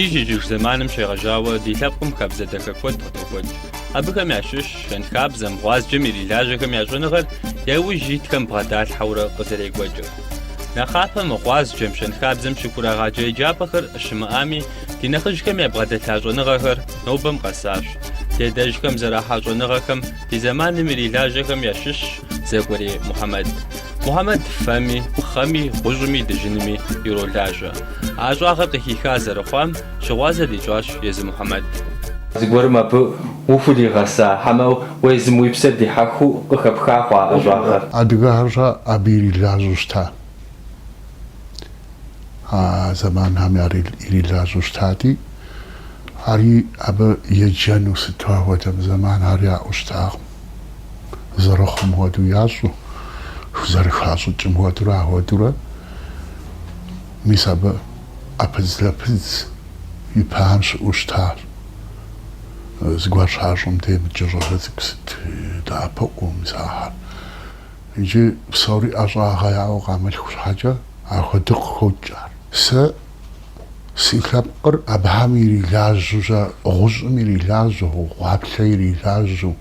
Ижь-ижьыж зэманым щегъэжьауэ ди лъэпкъым хабзэ дахэ куэд къыдокӏуэкӏ. Абыхэм ящыщщ щэнхабзэм, гъуазджэм ирилажьэхэм я щӏэныгъэр я ужь итхэм бгъэдалъхьэурэ къызэрекӏуэкӏыр. Нэхъапэм гъуазджэм, щэнхабзэм щыхурагъаджэ еджапӏэхэр щымыӏами, ди нэхъыжьхэм ябгъэдэлъа щӏэныгъэхэр нобэм къэсащ. Ди адэжьхэм зэрахьа щӏэныгъэхэм Ди зэманым ирилажьэхэм ящыщщ Зекӏуэрей Мухьэмэд. Мухьэмэд фэми, пхъэми, гъущӏми, дыжьынми иролажьэ. А ӏэщӏагъэр къыхиха зэрыхъуам щыгъуазэ дищӏащ езы Мухьэмэд. Зыгуэрым абы ухуригъэса, хьэмэ уезым уи псэр дихьэхыу къыхэпха хъуа ӏэщӏагъэр? Адыгэхэр щэ абы ирилажьэу щыта? а зэманхэм ирилажьэу щытати, ари абы еджэну сыту апхуэдэм зэманхэри яӏэу щытакъым. Зэрыхъум хуэдэу ящӏу, зэрыхащӏыкӏым хуэдэурэ ахуэдэурэ, мис абы ӏэпыдзлъэпыдз ипэм щыӏэу щытащ. Зыгуэр щащӏым демкӏэ щӏалэ цӏыкӏу сыт дэӏэпыкъуу мис ахэр! Иджы псори ӏэщӏагъэ яӏэу къамылъху щхьэкӏэ ахуэди къыхокӏ ар. Сэ си лъэпкъыр абыхэм ирилажьэу, гъущӏым ирилажьэу, гъуаплъэ ирилажьэу,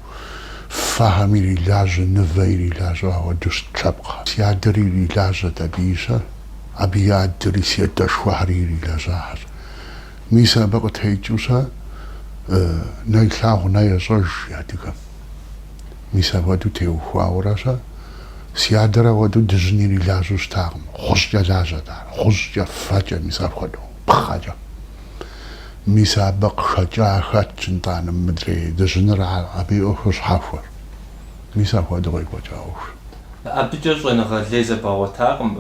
фэхэм ирилажьэу, нывэ ирилажьэу ахуэдэу щыт лъэпкъхэр. Си адэр ирилажьэт абы щэ, абы и адэри си адэшхуэхэри ирилэжьахэщ. Мис абы къытекӏыу сэ нэ илъагъу, нэ ещӏэж адыгэм. Мис апхуэдэу теухуауэрэ щэ. Си адэр апхуэдэу дыжьын ирилажьэу щытакъым. Гъущӏкӏэ лажьэт ар, гъущӏкӏэ, фэкӏэ, мис апхуэдэу, пхъэкӏэ. Мис абы къыхэкӏа хэтщ нтӏанэ мыдрей дыжьыныр ар, абы и ӏуэхур щхьэхуэр. Мис апхуэдэу къекӏуэкӏа ӏуэхущ. Абыкӏэ щӏэныгъэ лей зэбгъэгъуэтакъым,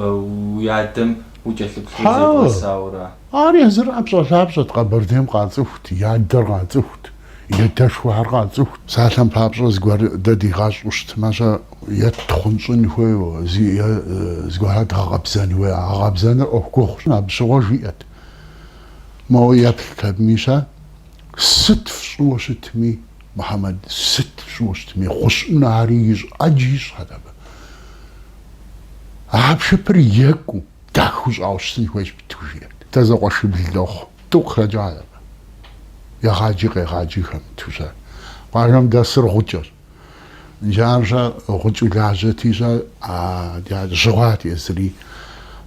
уи адэм укӏэлъыплъу зебгъэсауэ ара? Ар езыр ӏэпщӏэлъапщӏэт, Къэбэрдейм къацӏыхут, и адэр къацӏыхут. И адэшхуэхэр къацӏыхут псалъэм папщӏэ зыгуэр дэ дигъэщӏу щытмэ щэ, е ттхъунщӏын хуейуэ, е зыгуэр дгъэкъэбзэн хуейуэ. Гъэкъэбзэныр ӏуэху гугъущ, абы щыгъуэ жиӏэт. Моуэ еплът абыми, щэ сыт фщӏыуэ щытми, Мухьэмэд сыт фщӏыуэ щытми, хъущӏын ари ищӏ, ӏэджи ищӏхьэт абы. А хьэпшыпыр екӏуу, дахэу щӏауэ щытын хуейщ быдэу, жиӏэрт. Дэ зэкъуэшыбл дохъу. Тӏу къыхэкӏакъэ? Егъаджи къегъаджэхэм тӏу щэ. Къуажэм дэсыр гъукӏэщ. Ар щэ гъукӏэу лажьэти щэ а дя жьы хъуат езыри.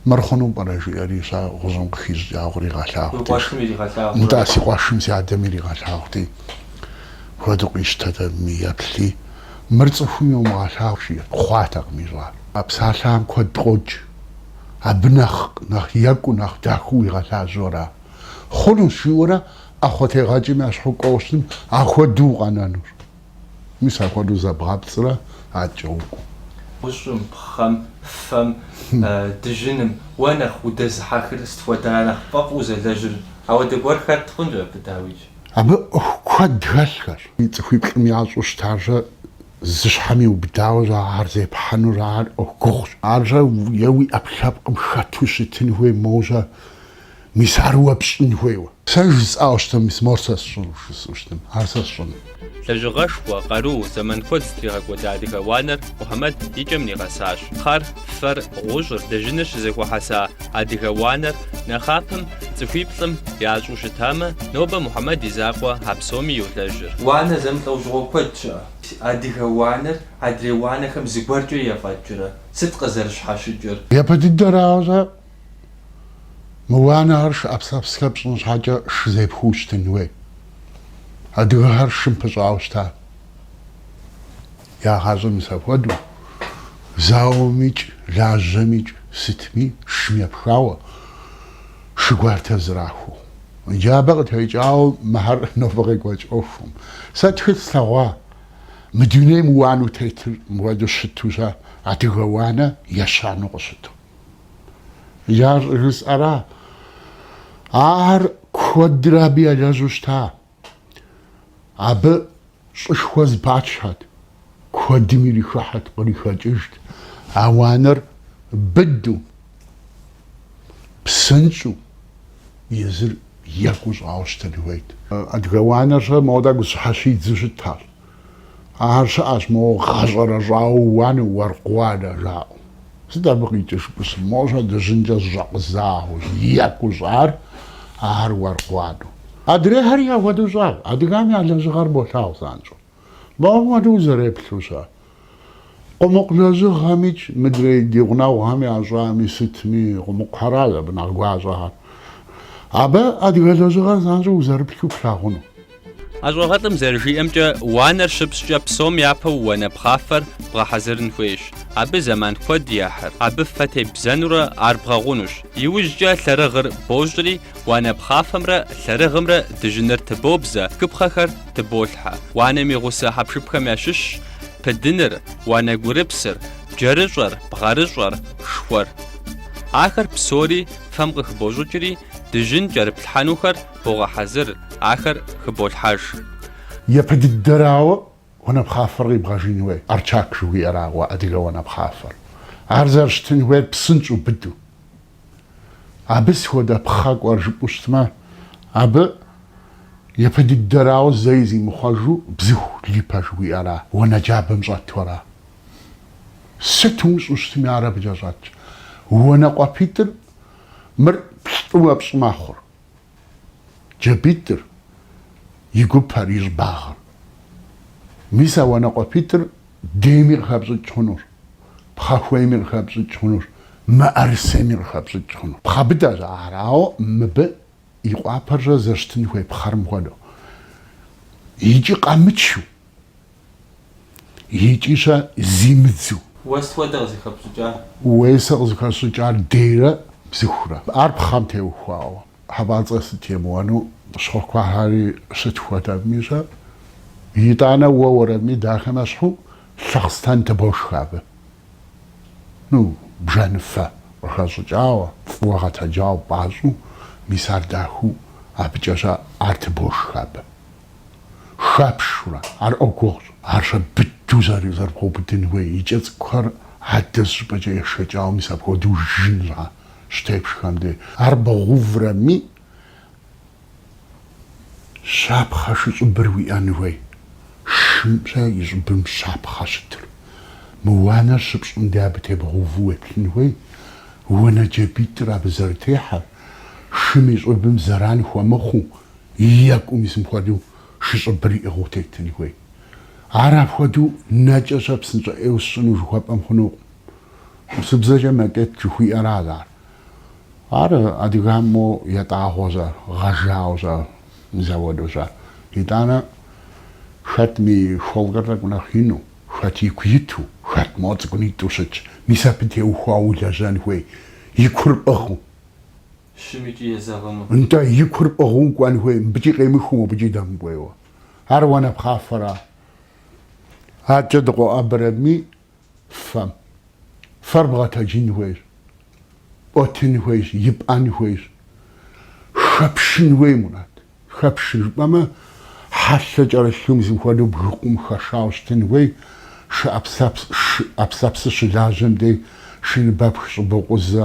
Мыр хъуну пӏэрэ жиӏэри щэ гъущӏым къыхищӏыкӏа гуэр иригъэлъагъути. Уи къуэшым иригъэлъагъурэ? Нтӏэ, си къуэшым си адэм иригъэлъагъути. Хуэдэу къищтэт абыми еплъи. Мыр цӏыхум йомыгъэлъагъу жиӏэ хъуатэкъым ищӏар. А псалъэм куэд къокӏ. Абы нэхъ нэхъ екӏуу, нэхъ дахэу уигъэлажьэу ара? Хъунущ, жиӏэурэ ӏэхъуэтегъэкӏэм я щхьэу кӏуэуэ щытым, ахуэдэу укъэнэнур. Мис апхуэдэу зэбгъэпцӏрэ адэкӏэ укӏуэу. Гъущӏым, пхъэм, фэм, дыжьыным, уэ нэхъ удэзыхьэхыр сыт хуэдэра нэхъ пфӏэфӏу узэлэжьыр? Ауэ зыгуэр хэт хъунщ абы, дауикӏ. Абы ӏуэху куэд хэлъхэрщ. Цӏыхуиплӏым ящӏу щытарщэ. Зы щхьэм иубыдауэ щӏэ ар зепхьэнур, ар ӏуэху гугъущ. Ар щӏэ е уи ӏэпкълъэпкъым хэту щытын хуей, моуэ щӏэ мис ар уэ пщӏын хуейуэ. Сэ жысӏауэ щытмэ, мис мор сэ сщӏыну, жысӏэу щытмэ, ар сэ сщӏыну. Лэжьыгъэшхуэ, къару, зэман куэд зытригъэкӏуэда адыгэ уанэр Мухьэмэд и кӏэм нигъэсащ. Пхъэр, фэр, гъущӏыр, дыжьыныр щызэхуэхьэса, Адыгэ уанэр нэхъапэм цӏыхуиплӏым ящӏу щытамэ, нобэ Мухьэмэд и закъуэ а псоми йолэжьыр. Уанэ зэмылӏэужьыгъуэ куэд щыӏэ. Адыгэ уанэр адрей уанэхэм зыгуэркӏэ ефӏэкӏрэ? Сыт къызэрыщхьэщыкӏыр? Япэ дыдэрауэ щӏэ, мы уанэхэр шы ӏэпсэпсхэр пщӏын щхьэкӏэ шы зепхуэу щытын хуей. Адыгэхэр шым пыщӏауэ щытащ. Я гъащӏэ мис апхуэдэу, зауэм икӏ, лажьэм икӏ, сытми, шым епхауэ, шы гуартэр зэрахуэу. Иджы абы къытекӏауэ мыхэр нобэ къекӏуэкӏ ӏуэхум. Сэ тхылъ слъэгъуа, мы дунейм уанэу тетыр мыхуэдэу щыту щӏэ адыгэ уанэ ещанэу къыщыту. Иджы ар щӏыжысӏэра, ахэр куэдрэ абы елэжьу щыта, Абы щӏышхуэ зэпачхьэт, куэдым ирихыхьэт, кърихэкӏыжт. А уанэр быдэу, псынщӏэу, езыр екӏуу щӏауэ щытын хуейт. Адыгэ уанэр щӏэ мода гущӏыхьэ щидзу щытащ. Ахэр щыӏэщ моуэ гъэщӏэрэщӏауэ уанэ уэркъ уанэ жаӏэу. Сыт абы къикӏыж пӏысу? Моуэ щӏэ дыжьынкӏэ зэщӏэкъузауэ, екӏуу щӏар ахэр уэркъ уанэу. Адрейхэри апхуэдэу щӏат, адыгэм я лэжьыгъэр болъагъу занщӏэу. Моуэ хуэдэу узэреплъу щыӏэ? Къумыкъу лэжьыгъэмикӏ мыдрей ди гъунэгъухэм ящӏами сытми, къумыкъухэращ абы нэхъ гуащӏэхэр. Абы адыгэ лэжьыгъэр занщӏэу узэрыплъу плъагъуну. ӏэщӏагъэлӏым зэрыжиӏэмкӏэ, уанэр щыпщӏкӏэ псом япэу уанэ пхъафэр бгъэхьэзырын хуейщ. Абы зэман куэд ехьыр, абы фэ тебзэнурэ ар бгъэгъунущ. Иужькӏэ лъэрыгъыр бощӏри, уанэ пхъафэмрэ лъэрыгъымрэ дыжьыныр тыбобзэ, тхыпхъэхэр, тыболъхьэ. Уанэм и гъусэ хьэпшыпхэм ящыщщ пыдыныр, уанэгурыпсыр, джэрыщӏэр, бгъэрыщӏэр, шхуэр. Ахэр псори фэм къыхыбощӏыкӏри, дыжьын кӏэрыплъхьэнухэр богъэхьэзыр, ахэр хыболъхьэж. Япэ дыдэрауэ уанэпхъафэр къибгъэжын хуей, арчак жыхуиӏэрауэ адыгэ уанэпхъафэр. Ар зэрыщытын хуейр псынщӏэу быдэу. Абы сыт хуэдэ пхъэ кӏуэр жыпӏэу щытмэ, абы япэ дыдэрауэ зэи зимыхъуэжу бзыху липэ жыхуиӏэра, уанэ джабэм щӏэту ара. Сыт умыщӏу щытми, ар абыкӏэ щӏэтщ. Уанэкъуэпитӏыр мыр плӏыуэ пщӏы мэхъур. Джабитӏыр и гупэр, и щӏыбагъыр. Мис а уанэкъуэпитӏыр дейми къыхэпщӏыкӏ хъунур, пхъэхуейми къыхэпщӏыкӏ хъунур, мыӏэрысейми къыхэпщӏыкӏ хъунур. Пхъэ быдэщ ар, ауэ мыбы и къуапэр-щэ зэрыщытын хуей пхъэрым хуэдэу, икӏи къэмычу, Икӏи-щэ зимыдзу. Уэ сыт хуэдэ къызыхэпщӏыкӏар? Уей, сэ къызыхэсщӏыкӏар дейрэ бзыхурэ. Ар пхъэм теухуауэ. Хьэпӏацӏэ сыт емыуэну. Щхъуэхуэхьэри сыт хуэдэми-щэ. Итӏанэ уэ уэрэми дахэмэ щхьу, лъэхъстэн тыбошхэ абы. Ну, бжэныфэ къыхэщӏыкӏауэ, фӏыуэ гъэтэджауэ пӏащӏэу, мис ар дахэу абыкӏэ-щэ ар тыбошхэ абы. хэпшурэ, ар ӏуэху гугъущ. Ар-щэ быдэу зэрыбгъэубыдын хуей и кӏэ цӏыкӏухэр адэ зыщӏыпӏэкӏэ ешэкӏауэ мис апхуэдэу жын щхьэ щытепшхэм де. Ар бгъэуврэми, щапхъэ шыщӏыбыр уиӏэн хуей. Шым-щэ и щӏыбым щапхъэ щытыр. Мы уанэр щыпщӏым де абы тебгъэуву уеплъын хуей. Уанэ джабитӏыр абы зэрытехьэр, шым и щӏыбым зэран хуэмыхъуу, Екӏуу мис мыпхуэдэу шы щӏыбыр иӏыгъыу тетын хуей. Ар апхуэдэу нэкӏэ-щэ псынщӏэ ӏейуэ сщӏыну жыхуэпӏэм хъунукъым. Урысыбзэкӏэ макет жыхуиӏэращ ар. Ар адыгэхэм моуэ ятӏагъуэ-щэ, гъэжауэ-щэ, мис апхуэдэу-щэ. Итӏанэ хэтми и холкэр тӏэкӏу нэхъ ину, хэт ику иту, хэт моуэ цӏыкӏунитӏу щытщ, мис абы теухуауэ улэжьэн хуей, и кур пӏыгъыу. шым икӏи езэгъыну. Нтӏэ, и кур пӏыгъыу кӏуэн хуей, мыбыкӏи къемыхыу мобыкӏи дэмыкӏуейуэ. Ар уанэпхъафэра. Адэкӏэ дыкъоӏэбэрэми, фэм. Фэр бгъэтэджын хуейщ, пӏуэтын хуейщ, ипӏэн хуейщ, хэпшын хуей, Мурат. Хэпшын жыпӏэмэ, хьэлъэ кӏэрылъу мис мыпхуэдэу бгыкъум хэшауэ щытын хуей, шы ӏэпслъэпсыр щылажьэм дей, шыныбэпх щӏыбокъузэ,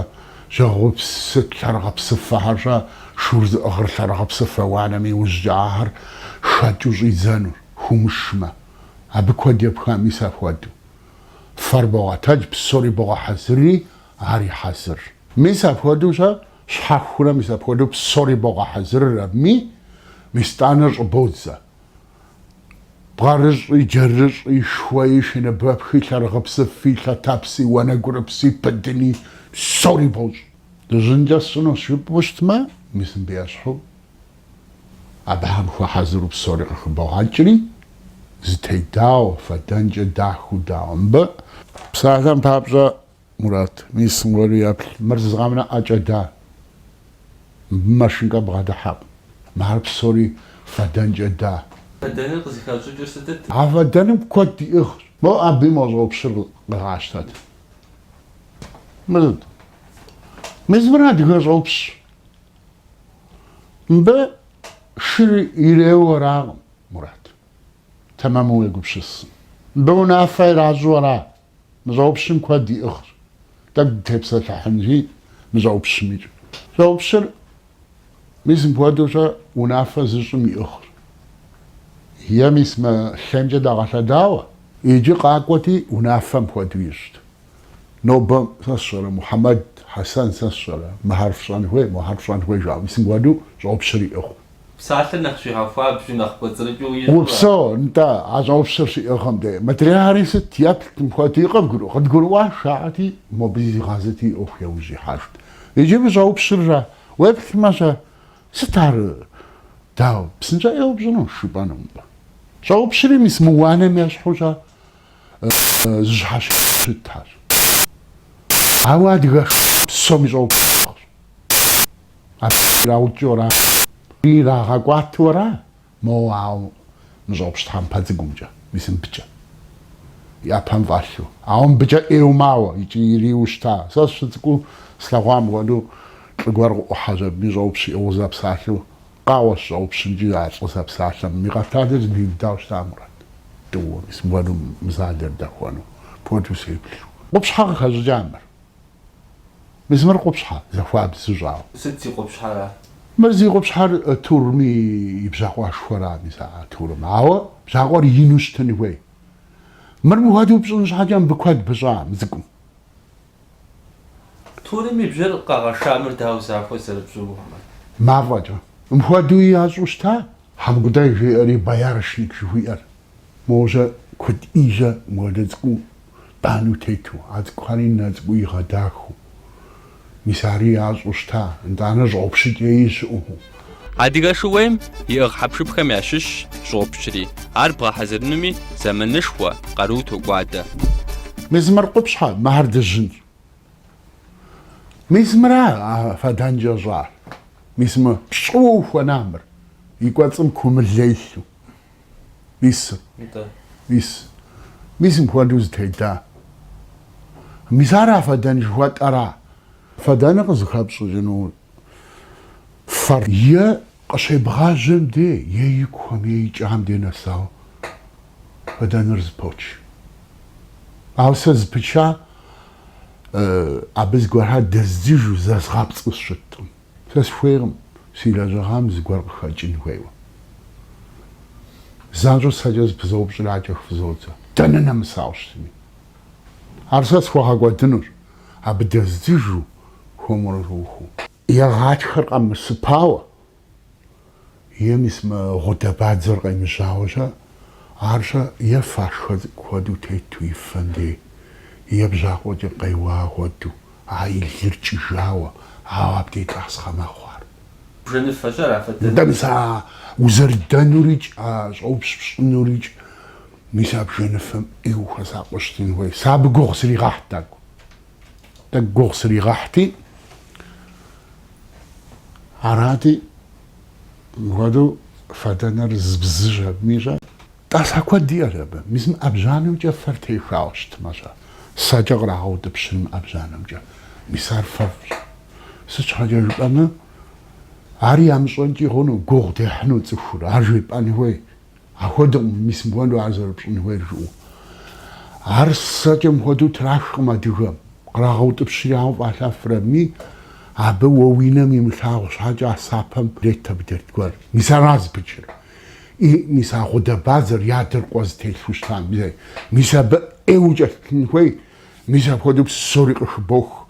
жьэгъупсы лъэрыгъыпсыфэхэр щэ, шур зыӏыгъыр лъэрыгъыпсыфэ уанэм иужькӏэ ахэр хэкӏыу щӏидзэнур, хумышмэ. Абы куэд епха мис апхуэдэу. Фэр богъэтэдж, псори богъэхьэзырри, ари хьэзыр. Мис апхуэдэу щэ Щхьэхурэ мис апхуэдэу псори богъэхьэзырыр абыми, мис тӏанэр щӏыбодзэ. Бгъэрыщӏи, джэрыщӏи, шхуэи, шыныбэпхи, лъэрыгъыпсыфи, лъэтэпси, уанэгурыпси, пыдыни, псори бощӏ. Дыжьынкӏэ сщӏынущ жыпӏэу щытмэ, мис мыбы ещхьу абыхэм хуэхьэзыру псори къыхыбогъэкӏри, зэтедауэ, фэдэнкӏэ дахэу дауэ мыбы. Псалъэм папщӏэ, Мурат, мис мыгъуэри еплъ. Мыр зы къэмынэу ӏэкӏэ да, мыбы машинкэ бгъэдыхьэкъым. Мыр псори фэдэнкӏэ да. Фэдэныр къызыхащӏыкӏыр сытыт? А фэдэным куэд иӏыгъщ. Мо абы мо щӏопщыр къегъащтэт. Мыр сыт? Мис мыр адыгэ щӏопщщ. Мыбы шыр иреуэу аракъым, Мурат. Тэмэму уегупсысын. Мыбы унафэ иращӏу ара Мы щӏопщым куэд иӏыгъщ. Тӏэкӏу дытепсэлъыхьынщи мы щӏопщымикӏ. Щӏопщыр, мис мыпхуэдэу-щэ, унафэ зыщӏым иӏыгъщ. Е мис мы лъэмкӏэ дэгъэлъэдауэ? Иджы къакӏуэти, унафэм хуэдэу ищӏт. Нобэ сэ сщӏэрэ, Мухьэмэд, Хьэсэн, сэ сщӏэрэ, мыхэр фщӏэн хуей, мохэр фщӏэн хуей жаӏэу, мис мыпхуэдэу щӏопщыр иӏыгъыу. Псалъэр нэхъ щигъэхуабжу, нэхъ кӏуэцӏрыкӏыу ищӏурэ? Упсэу, нтӏэ, а щӏопщыр щиӏыгъым дей. Мыдрейхэри сыт еплът мыпхуэдэу, къыдгуру, къыдгурыӏуащ, жаӏэрти, мобы зигъэзэти, ӏуэху яужь ихьэжт. Иджы мы щӏопщыр щэ, уеплъмэ, щэ сыт ар, дауэ, псынщӏэу пщӏынущ, жыпӏэнукъым. Щӏопщри мис мы уанэм ещхьу щэ зыщхьэщытащ. Ауэ адыгэ псоми щӏопщ яӏэщ. Ар къыщраукӏыурэ ирагъэкӏуатэурэ моуэ, ауэ мы щӏопщ тхьэмпэ цӏыкӏумкӏэ, мис мыбыкӏэ и ӏэпэм фӏэлъу, ауэ мыбыкӏэ ӏейуэ мауэ икӏи ириуэу щыта. Сэ сщыцӏыкӏуу слъэгъуа мыпхуэдэу лӏы гуэр къыӏухьащ абы и щӏопщ иӏыгъыу зэпсалъэу, къеуэщ щӏопщымкӏи а лӏы зэпсалъэм и къэпталыр зэпиудауэ щыта, Мурат, тӏууэ, мис мыпхуэдэу мызалэр дэхуэну, апхуэдэу сеплъу. Къупщхьэ къыхэщӏыкӏа мыр? Мис мыр къупщхьэ, захуабзэу щӏауэ. Сыт зи къупщхьэр ар? Мыр зи къупщхьэр турым и бжьакъуэшхуэра, мис а Турым. Ауэ бжьакъуэр ину щытын хуей. Мыр мыхуэдэу пщӏын щхьэкӏэ мыбы куэд пыщӏа мы цӏыкӏум. Турым и бжьэр къэгъэша мыр дауэ захуэу зэрыпщӏыну хъумэ? Мафӏэкӏэ. Мыхуэдэуи ящӏу щыта, Хьэмкӏутӏей жиӏэри боярышник жыхуиӏэр. Мо ужьэ куэд ижьэ мыхуэдэ цӏыкӏу банэу тету, а цӏыкӏухэри нэ цӏыкӏуу игъэдахыу. Мис ари ящӏу щыта, нтӏанэ щӏопщыкӏ ищӏу. Адыгэ шууейм иӏыгъ хьэпшыпхэм ящыщщ щӏопщри. Ар бгъэхьэзырынуми зэманышхуэ, къару токӏуадэ. Мис мыр къупщхьэ, мыхьэр дыжьынщ. Мис мыра а фэдэнкӏэ щӏар? Мис мы пщӏыуэ ухуэна мыр? И кӏуэцӏым кумылэ илъу. Мис. Нтӏэ. Мис. Мис мыпхуэдэу зэтеда. Мис ара фэдэн жыхуэтӏэра? Фэдэныр къызыхэпщӏыкӏыну фэр. Е къыщебгъажьэм де, е икухэм, е икӏам де нэсау фэдэныр зэпоч. Ауэ сэ зэпыча абы зыгуэрхэр дэздзыжу, зэзгъэпцӏу сщыткъым. Сэ схуейкъым си лэжьыгъэм зыгуэр къыхэкӏын хуейуэ. Занщӏэу сэкӏэ зэпызоупщӏри акӏэ хыфӏызодзэ, дэнэ нэмысауэ щытми, ар сэ схуэгъэкӏуэдынущ. абы дэздзыжу хуэмурэ жохыу. Е гъатхэр къэмысыпауэ, е мис мы гъудэ-бадзэр къемыжьауэ-щэ, ар-щэ е фашхэ цӏыкӏу хуэдэу тету и фэм дей, е бжьакъуэкӏэ къеуа хуэдэу а и лыр кӏыжауэ, ауэ абдей тӏасхъэ мэхъу ар. Бжэныфэщӏэр афэдэнукъым. Нтӏэ, мис а узэрыдэнурикӏ, а щӏопщ пщӏынурикӏ Мис а бжэныфэм ӏейуэ хуэсакъыу щытын хуей. Сэ абы гугъу сригъэхьт тӏэкӏу. Тӏэкӏу гугъу сригъэхьти, арати, мыпхуэдэу фэдэныр зыбзыж абым ищӏэ. Тӏасхъэ куэд иӏэщ абы. Мис мы ӏэбжьанэмкӏэ фэр техауэ щытмэ щэ? Сэкӏэ кърагъэутӏыпщын мы ӏэбжьанэмкӏэ. Мис ар фэфӏщ. Сыт щхьэкӏэ жыпӏэмэ, ар ямыщӏэнкӏи хъуну, гугъу дехьыну цӏыхур. Ар жепӏэн хуей. Апхуэдэкъым мис мыхуэдэу ар зэрыпщӏын хуейр жыӏэу. Ар сэкӏэ мыхуэдэу трахкъым адыгэм, кърагъэутӏыпщри ауэ фӏалъэфрэ-ми, абы уэ уи нэм имылъагъу щхьэкӏэ а сэпэм ирет абы дерт гуэр. Мис ара зэпычыр? И, мис а гъудэ-бадзэр е а дыркъуэ зытелъу щытам зэи, мис абы ӏейуэ укӏэлъыплъын хуей, мис апхуэдэу псори къыхыбох.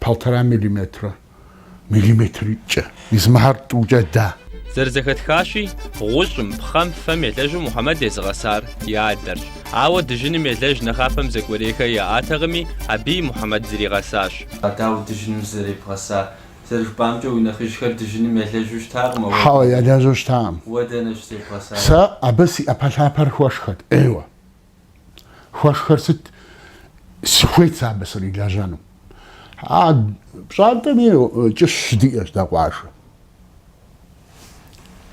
Полтора миллиметрэ миллиметркӏэ измыхьэр тӏукӏэ да. Зэрызэхэтхащи, гъущӏым, пхъэм, фэм елэжу Мухьэмэд езыгъэсар и адэрщ. Ауэ дыжьыным елэж нэхъапэм Зекӏуэрейхэ яӏатэкъыми, абыи Мухьэмэд зригъэсащ. Дауэ дыжьыным зэребгъэсар? Зэрыжыпӏамкӏэ, уи нэхъыжьхэр дыжьыным елэжу щытакъым, ауэ дэнэ? Хьэуэ, елэжу щытакъым. Уэ дэнэ щызебгъэсар? Сэ абы си ӏэпэлъапэр хуэшхэт, ӏейуэ. Хуэшхэр сыт? Сыхуейт сэ абы срилэжьэну. А пщӏантӏэми кӏыщ щыдиӏэщ дэ къуажэм.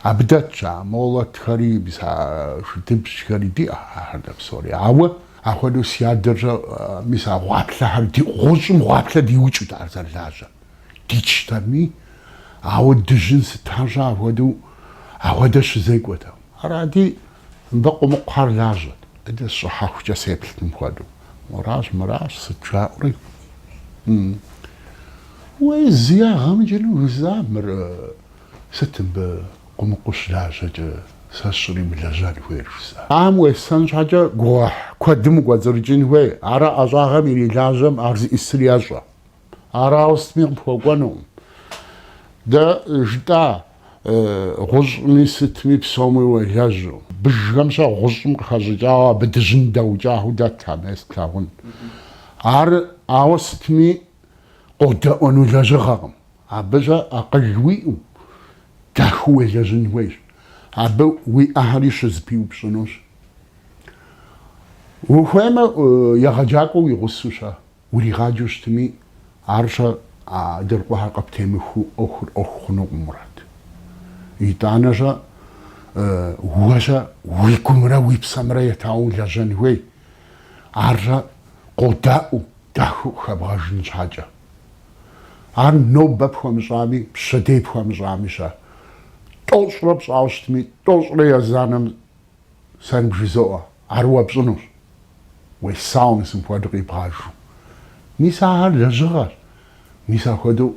Абы дэтщ а молотхэри, мис а шыдыбжьхэри диӏэщ ахэр дэ псори. Ауэ апхуэдэу си адэрщэ, мис а гъуаплъэхэр ди гъущӏым гъуаплъэ диукӏэут ар зэрылажьэр. Дичтэми, ауэ дыжьын сыт арщӏэ апхуэдэу апхуэдэ щызекӏуэтэу. Арати, Мыбы къумыкъухэр лажьэт. Адэ сщӏыхьэхукӏэ сеплът мым хуэдэу. Муращ, мыращ, сыт жаӏэури. Уей, зы ягъэ мыкӏыну жыза мыр, сыт мыбы къумыкъу щылажьэкӏэ сэ сщӏримылэжьэн хуейр жыза. Ам уесэн щхьэкӏэ гугъуехь куэдым укӏуэцӏрыкӏын хуей, ара ӏэщӏагъэм ирилажьэм ар зиӏысыр ещӏэ. Ар ауэ сытми къыпхуэкӏуэнукъым. Дэ жытӏа Гъущӏми сытми псоми уелэжьу. Быжхэмщэ гъущӏым къыхэщӏыкӏауэ абы дыжьын дэукӏахэу дэт а мес тлъагъун. Ар, ауэ сытми, къодэӏуэну лэжьыгъэкъым. Абыщӏэ акъыл уиӏэу, дахэу уелэжьын хуейщ. Абы уи ӏэхэри щызэпиупщӏынущ. Ухуеймэ, егъэджакӏуэу уи гъусэу щэ. Уригъаджэу щытми, арщэ а дыркъуэхэр къыптемыхуэу ӏуэхур ӏуэху хъунукъым, Мурат. Итӏанэщӏэ уэщӏэ уи гумрэ уи псэмрэ етауэ улэжьэн хуей, арщэ къодаӏуэу, дахэу къыхэбгъэжын щхьэкӏэ. Ар нобэ пхуэмыщӏами, пщэдей пхуэмыщӏами-щэ, тӏощӏрэ пщӏауэ щытми, тӏощӏрэ езанэм Сэ ныбжызоӏэ, ар уэ пщӏынущ. Уесауэ мис мыпхуэдэу къибгъажу. Мис ахэр лэжьыгъэщ. Мис апхуэдэу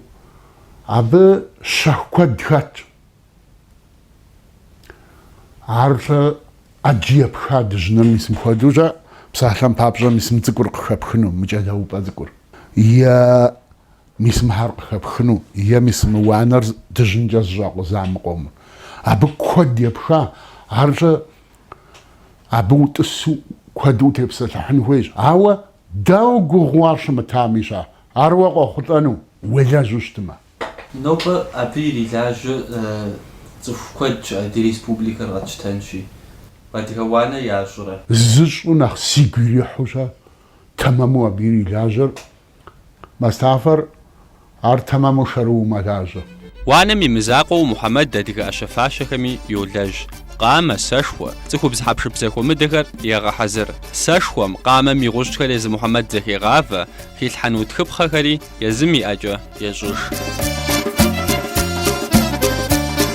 абы щэху куэд хэтщ. Ар, э, ӏэджи епха дыжьыныр мис мыпхуэдэущӏэ, псалъэм папщӏэ мис мы цӏыкӏур къыхэпхыну, мы кӏэлэупӏэ цӏыкӏур. Е Мис мыхэр къыхэпхыну е мис мы уанэр дыжьынкӏэ зэщӏэкъуза мы къомыр? Абы куэд епха, арщӏэ абы утӏысу куэду утепсэлъыхьын хуейщ. Ауэ дауэ гугъуу ар щымытами щэ? Ар уэ къохъулӏэну уелэжьу щытмэ? Нобэ абы ирилажьэ цӏыху куэд щыӏэ, ди республикэр къэтщтэнщи. Адыгэ уанэ ящӏрэ? Зыщӏу нэхъ сигу ирихьу щэ, тэмэму абы ирилажьэр Мастафэр ар тэмэму шэрыуэу мэлажьэ. Уанэм и мызакъуэу Мухьэмэд адыгэ ӏэщэ-фащэхэми йолэжь. Къамэ, сэшхуэ, цӏыхубз хьэпшып зэхуэмыдэхэр егъэхьэзыр. Сэшхуэм, къамэм и гъущӏхэр езы Мухьэмэд зэхегъавэ, хилъхьэну тхыпхъэхэри езым и ӏэкӏэ ещӏыж.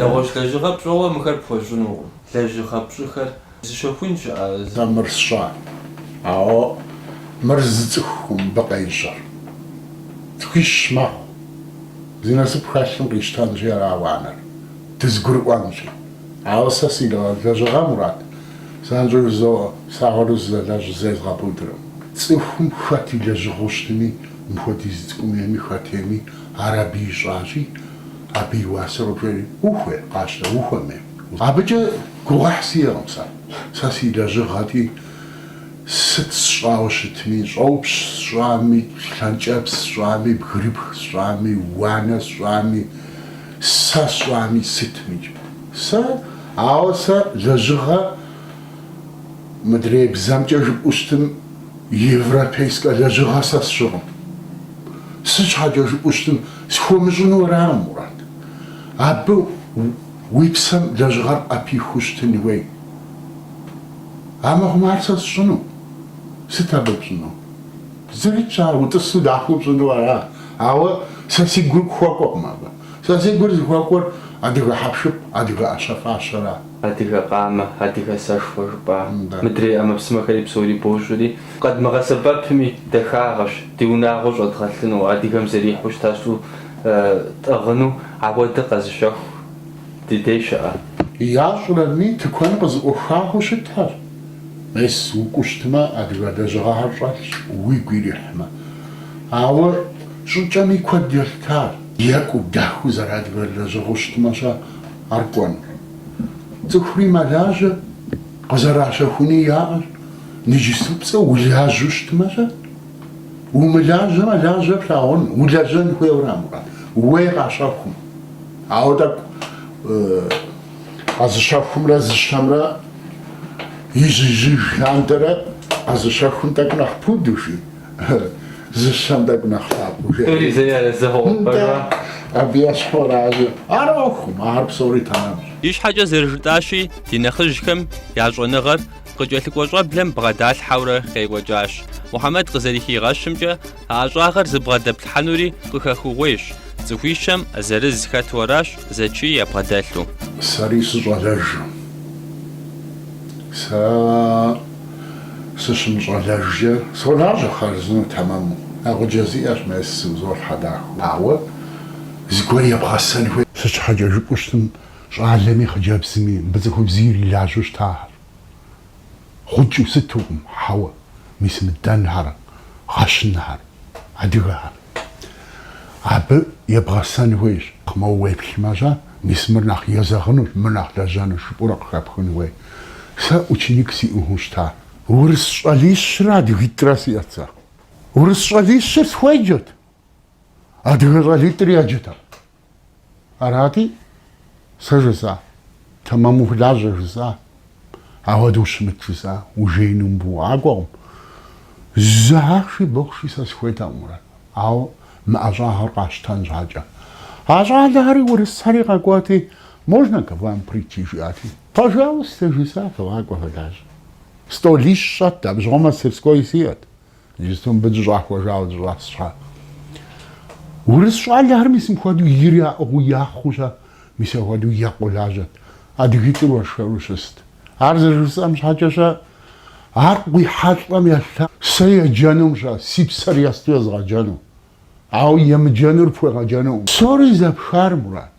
Нэгъуэщӏ лэжьыгъэ пщӏэуэ мыхэр пхуэщӏынукъым, лэжьыгъэ пщӏыхэр зыщэхун щыӏэщ. А мыр сщӏат, ауэ мыр зы цӏыхукъым мыбы къещӏэр. Цӏыхуищ мэхъу. Зи насып хэлъым къищтэнщи арауэ къанэр, дызгурыӏуэнщи. Ауэ сэ си лэжьыгъэ, Мурат, занщӏэу жызоӏэ, сагъыру зызэлэжь зезгъэпудыркъым. Цӏыхум хэт и лэжьыгъэу щытми, мыпхуэдиз цӏыкӏум ейми, хэт ейми ар абы ищӏащи, Абы и уасэр къыжеӏэри, ухуей, къащтэ, ухуэмей. Абыкӏэ гугъуехь сиӏэкъым сэ. Сэ си лэжьыгъэти, сыт сщӏауэ щытми, щӏопщ сщӏами, лъэнкӏэпс сщӏами, бгырыпх сщӏами, уанэ сщӏами, сэ сщӏами, сытмикӏ. Сэ, ауэ сэ лэжьыгъэ мыдрей бзэмкӏэ жыпӏэу щытым, европейскэ лэжьыгъэ сэ сщӏыкъым. Сыт щхьэкӏэ жыпӏэу щытым, Схуэмыщӏыну аракъым, Мурат. Абы уи псэм лэжьыгъэр къэпихыу щытын хуей. Амыхъумэ ар сэ сщӏыну. Сыт абы пщӏыну? Зэрытщ ар, утӏысу дахэу пщӏыну ара. Ауэ сэ си гур хуэкӏуэкъым абы. Сэ си гур зыхуэкӏуэр адыгэ хьэпшып, адыгэ ӏэщэ-фащэра. Адыгэ къамэ, адыгэ сэшхуэ жыпӏа. Мыдрей ӏэмэпсымэхэри псори бощӏри, Къэдмыгъэсэбэпми, дахагъэщ ди унагъуэ щӏэдгъэлъыну, адыгэм зэрихьу щыта щӏы тӏыгъыну, ауэ дэ къэзыщэху ди дей щыӏэ. Ящӏрэми, тыкуэн къызэӏухауэ щытхэр. Мес, укӏуэу щытмэ, адыгэ лэжьыгъэхэр щӏэлъщ, уигу ирихьмэ. Ауэ щӏыкӏэми куэд елъытащ. Екӏуу дахэу зэрыадыгэ лэжьыгъэу щытмэ-щэ ар кӏуэнур? Цӏыхури мэлажьэ. Къызэращэхуни яӏэщ, иджыпступцӏэу улажьэу щытмэ-щэ? Умылажьэмэ, лажьэ плъагъун, улэжьэн хуейуэ арам-къэ? Уей къащэхум. Ауэ тӏэкӏу къэзыщэхумрэ зыщэмрэ ижь-ижьыж лъандэрэ къэзыщэхум тӏэкӏу нэхъ пуду, жи. Зыщэм тӏэкӏу нэхъ лъапӏэу жеӏэ. Тӏури зэи арэзы хъугъэпӏэрмэ. Абы ещхьуращи, ар ӏуэхум, ар псори тэмэмщ. Ищхьэкӏэ зэрыжытӏащи, ди нэхъыжьхэм я щӏэныгъэр къыкӏэлъыкӏуэ щӏэблэм бгъэдалъхьэурэ къекӏуэкӏащ. Мухьэмэд къызэрыхигъэщымкӏэ, а ӏэщӏагъэр зыбгъэдэплъхьэнури къыхэхыгъуейщ, цӏыхуищэм зырыз хэту аращ зэчий ябгъэдэлъу. Сэри сыщӏалэжу. Сэ. сыщымыщӏэлэжкӏэ, солажьэ хъарзынэу тэмэму. Нэгъуджэ сиӏэщ мес зыӏузолъхьэ дахэу. Ауэ зыгуэр ебгъэсэн хуей. Сыт щхьэкӏэ жыпӏэу щытым щӏалэми хъыджэбзми, мыбы цӏыхубзи ирилажьэу щытахэр. Гъукӏыу сытукъым, хьэуэ, мис мы дэнхэр, гъэщынхэр, адыгэхэр. Абы ебгъэсэн хуейщ. Моуэ уеплъмэ щэ, мис мыр нэхъ езэгъынущ, мыр нэхъ лэжьэнущ, жыпӏэурэ къыхэпхын хуей. Сэ ученик сиӏыгъыу щыта? Урыс щӏалищрэ адыгитӏрэ сиӏэт сэ. Урыс щӏалищыр схуеджэт, адыгэ щӏалитӏыр еджэтэкъым. Арати, сэ жысӏа, тэмэм ухулажьэ жысӏа, ауэдэ ущымыт жысӏа, ужеину мыбы укъакӏуэкъым. Зы ахъши бохъши сэ сыхуейтэкъым, Мурат, ауэ мы ӏэщӏагъэр къащтэн щхьэкӏэ. А щӏалэхэри урысхэри къэкӏуэти, можно к вам прийти, жиӏати, пожалуйста, жысӏа, фыкъакӏуэ фылажьэ. Столищ щӏэтт, абы щыгъуэ мастерской сиӏэт. Иджыпсту мыбы дыщӏахуэжауэ дыщӏэс щхьэ. Урыс щӏалэхэр мис мыхуэдэу ир яӏыгъыу яхъуу щэ, мис ахуэдэу екъуу лажьэт. Адыгитӏыр уэршэру щыст. Ар зэрыжысӏэм щхьэкӏэ щэ, ар къуихьэлӏэм елъа. Сэ еджэнум щэ, си псэр есту езгъэджэну. Ауэ емыджэнур пхуегъэджэнукъым. Псори зэпхар, Мурат.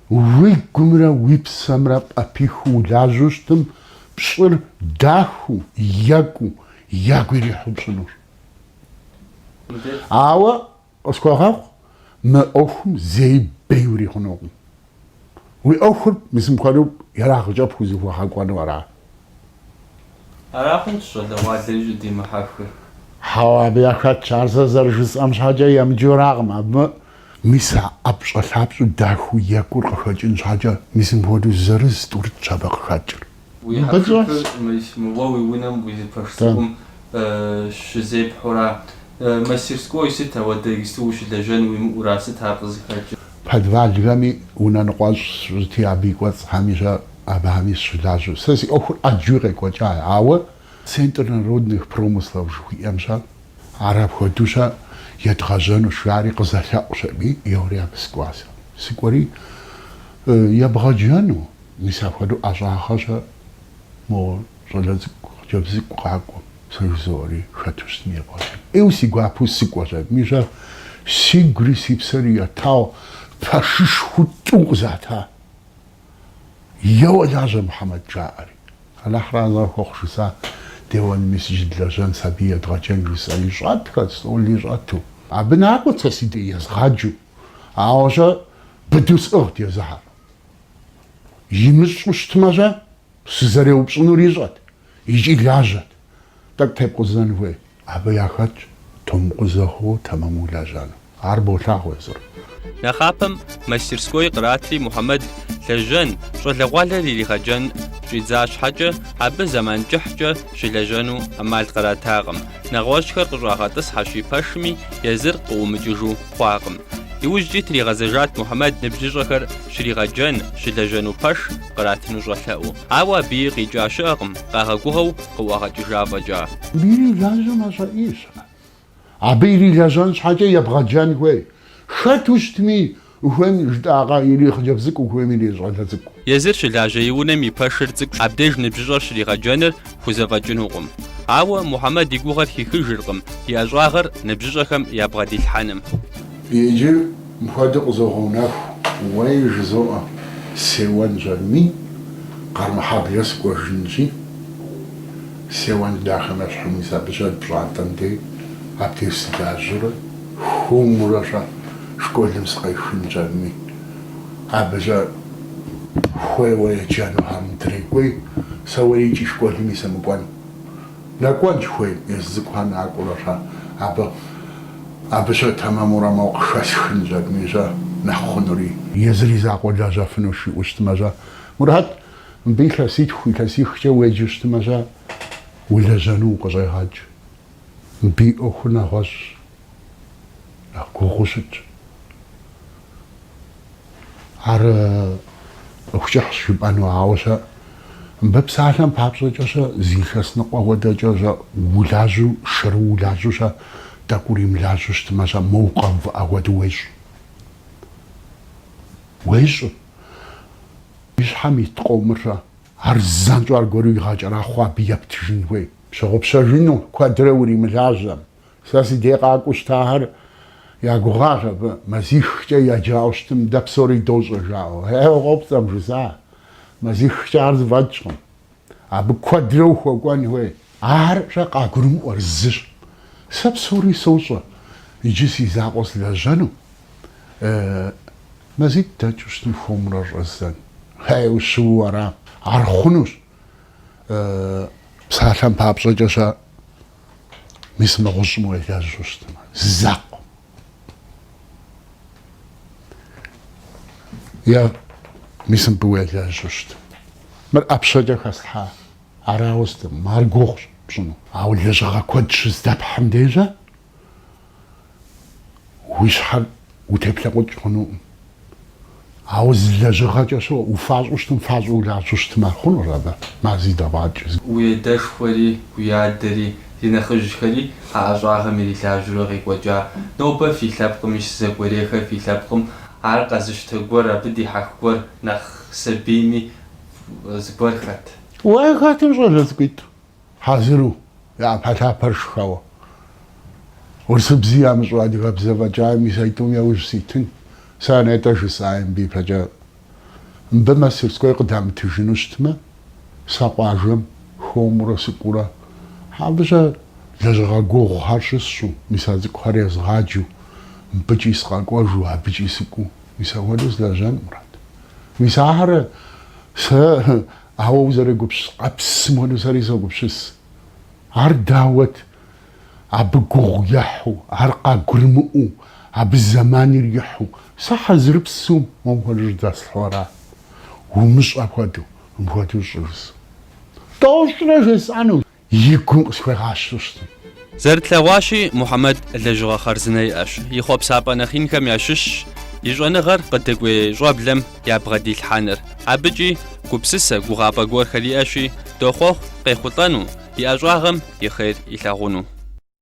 Уигумрэ уи псэмрэ пӏэпихыу улажьэу щытым, пщӏыр дахыу, екӏуу, ягу ирихьу пщӏынур. Ауэ къысхуэгъэгъу, мы ӏуэхум зэи бей урихъунукъым. Уи ӏуэхур мис мыпхуэдэу ерагъкӏэ пхузыхуэгъэкӏуэну ара? Ара хъунщ щӏалэгъуалэр щӏыдимыхьэхыр. Хьэуэ, абы яхэтщ. Ар сэ зэрыжысӏэм щхьэкӏэ емыджэракъым. Абы. Мис а ӏэпщӏэлъапщӏу дахэу екӏур къыхэкӏын щхьэкӏэ, мис мыпхуэдэу зырыз тӏурытӏщ абы къыхэкӏыр. Уи хьэпшыпыр, мис моуэ уи унэм уи зы пэш цӏыкӏум щызепхьура? Мастерской сыт, ауэдэ иджыпсту ущылэжьэн уимыӏура? Сыт ар къызыхэкӏыр? Подвалхэми унэ ныкъуэщӏ щытти, абы и кӏуэцӏхэми щэ Абыхэми сыщылажьэу. Сэ си ӏуэхур ӏэджэуи къекӏуэкӏа, ауэ. Центр народных промыслов жыхуиӏэм щэ, ар апхуэдэу щэ едгъэжьэнущ, жари къызэлъэӏущ аби еуэри абы сыкӏуа сэ. Сыкӏуэри ебгъэджэну, мис апхуэдэу ӏэщӏагъэ щэ мо щӏалэ цӏыкӏу, хъыджэбз цӏыкӏу къакӏуэм, сэ жызоӏэри хэту щытми ебгъэджэну. ӏейуэ си гуапэу сыкӏуэщ аби щэ, сигури си псэри етауэ пэшышхуу тӏу къызата. Еуэ лажьэ, Мухьэмэд! жаӏэри. Алыхьыр арэзы хуэхъу, жысӏа деуэн, мис иджы длэжьэн, сабий едгъэджэн, жысӏэри. Щӏэтхэт, стӏоли щӏэту. Абы накӏуэт сэ си дей езгъаджэу, ауэ щэ быдэу сӏыгът езыхэр. Имыщӏу щытмэ-щэ, сызэреупщӏынур ищӏэт икӏи лажьэт. Тӏэкӏу тепкъузэн хуей. Абы яхэтщ тумыкъузэххэу тэмэму лэжьэну. Ар болъагъу езыр. Нэхъапэм мастерской къратри Мухьэмэд лэжьэн, щӏалэгъуалэр иригъэджэн щӏидза щхьэкӏэ, абы зэман кӏыхькӏэ щылэжьэну ӏэмал къратакъым. Нэгъуэщӏхэр къыщӏагъэтӏысхьэщи пэшми, езыр къыӏумыкӏыжу хъуакъым. Иужькӏи тригъэзэжат Мухьэмэд ныбжьыщӏэхэр щригъэджэн, щылэжьэну пэш. къратыну щӏэлъэӏуу. Ауэ абыи къикӏа щыӏэкъым, къагъэгугъэу къыӏуагъэкӏыжа фӏэкӏа. Ирилэжьу мэщӏэӏийщ ар. Абы ирилэжьэн щхьэкӏэ ебгъэджэн хуей. Хэту щытми, ухуейм жытӏакъэ, ирехъыджэбз цӏыкӏу, ухуейм ирещӏалэ цӏыкӏу. Езыр щылажьэ и унэм и пэшыр цӏыкӏущ, абдеж ныбжьыщӏэр щригъэджэныр хузэфӏэкӏынукъым. Ауэ Мухьэмэд и гугъэр хихыжыркъым и ӏэщӏагъэр ныбжьыщӏэхэм ябгъэдилъхьэным. Иджы Мыпхуэдэу къызогъэунэху, уей, жызоӏэ, сеуэн жьэнми, Къармэхьэблэ сыкӏуэжынщи, сеуэн дахэ нэщхьыми, абы щэ пщӏантӏэм дей абдеж сылажьэурэ, хуэмурэ щӏэ школым сыкъехын щӏэнми, абы щӏэ хуейуэ еджэнухэм дрекӏуей, сэ уей икӏи школми сымыкӏуэн. Нэкӏуэнщ хуей езы зыгуэр накӏуэрэ щэ абы. Абы щэ тэмэмурэ мо къыхэсхын жьэтми щэ нэхъ хъунури. Езыр и закъуэ лэжьэфыну щыӏэу щытмэ щэ. Мурат, мыбы илъэситху, илъэсихкӏэ уеджэу щытмэ щэ, улэжьэну укъыщӏегъэкӏ. Мыбы и ӏуэхур нэгъуэщӏщ. Нэхъ гугъуу щытщ. Ар ӏуэху кӏыхьщ жыпӏэну, ауэ щэ мыбы псалъэм папщӏэкӏэ щэ зы илъэс ныкъуэ хуэдэкӏэ щэ улажьэу, шэру улажьэу щэ тӏэкӏу уримылажьэу щытмэ, щэ мо укъэувыӏэ хуэдэу уещӏ. Уещӏ. И щхьэм ит къомыр щэ ар занщӏэу аргуэру игъэкӏэрахъуэу абы ептыжын хуей. Пщыгъупщэжыну куэдрэ уримылажьэм. Сэ си дей къакӏуэу щытахэр я гугъащ абы, мазихкӏэ яджауэ щытым дэ псори дощӏэ жаӏэу. Хьэуэ, къопцӏэм жысӏа, мазихкӏэ ар зэфӏэкӏкъым. Абы куэдрэ ухуэкӏуэн хуей. Ар щэ къагурымыӏуэр зыщ. Сэ псори сощӏэ, иджы си закъуэ слэжьэну. Э, мазитӏ дэкӏыу щытым хуэмурэ щӏэздзэн. Хьэуэ, щыуэу ара. Ар хъунущ. Э, псалъэм папщӏэкӏэ щэ. Мис мы гъущӏым уелэжьу щытмэ, зы закъуэ. Е мис мыбы уелэжьу щытым. Мыр ӏэпщэкӏэ хэслъхьа арауэ щытым, ар гугъущ пщӏыну. Ауэ лэжьыгъэ куэд щыздэпхьым дежьэ Уи щхьэр утеплъэкъукӏ хъунукъым. Ауэ зы лэжьыгъэкӏэ щоӏэ, уфащӏэу щытым фащӏэу улажьу щытым ар хъунур абы, мази дэгъуакӏ. Уядэшхуэри, уядэри, ди нэхъыжьхэри а ӏэщӏагъэм ирилажьэурэ къекӏуэкӏа. Нобэ фи лъэпкъым щыщ зыгуэрэхэр фи лъэпкъым, ар къэзыщтэ гуэр, абы дихьэх гуэр, нэхъ сабийми зыгуэр хэт. Уэ хэтым щӏалэ цӏыкӏуитӏ? Хьэзыру, я ӏэпэлъапэр шхэуэ. Урысыбзи ямыщӏу адыгэбзэ фӏэкӏа мис аитӏум яужь ситын. Сэ а нетӏэ жысӏаи мыбы ипэкӏэ. Мыбы мастерской къыдамытыжыну щытмэ, сэ къуажэм хуэмурэ сыкӏуурэ. Абыкӏэ лэжьыгъэ гугъухэр щысщӏу, мис а цӏыкӏухэр езгъаджу, мыбыкӏи сыкъэкӏуэжу, абыкӏи сыкӏуу. Мис апхуэдэу сылэжьэн мурад. Мис ахэр сэ Ауэ узэрегупщыс къабзэм хуэду сэри согупщыс. Ар дауэт? Абы гугъу ехьу, ар къагурымыӏуэу, абы зэман ирихьу, сэ хьэзырыпсу мобы жьэдэслъхьэуэра? Умыщӏ апхуэдэу, мыпхуэдэу щӏы жысӏу. Тӏощӏрэ жесӏэнущ. и гум къысхуегъащу щытым. Зэрытлъэгъуащи, Мухьэмэд лэжьыгъэ хъарзынэ иӏэщ, и хъуэпсапӏэ нэхъ инхэм ящыщщ и щӏэныгъэр къыдэкӏуей щӏэблэм ябгъэдилъхьэныр. Абыкӏи гупсысэ, гугъапӏэ гуэрхэр иӏэщи, дохъуэхъу къехъулӏэну, и ӏэщӏагъэм и хъер илъагъуну.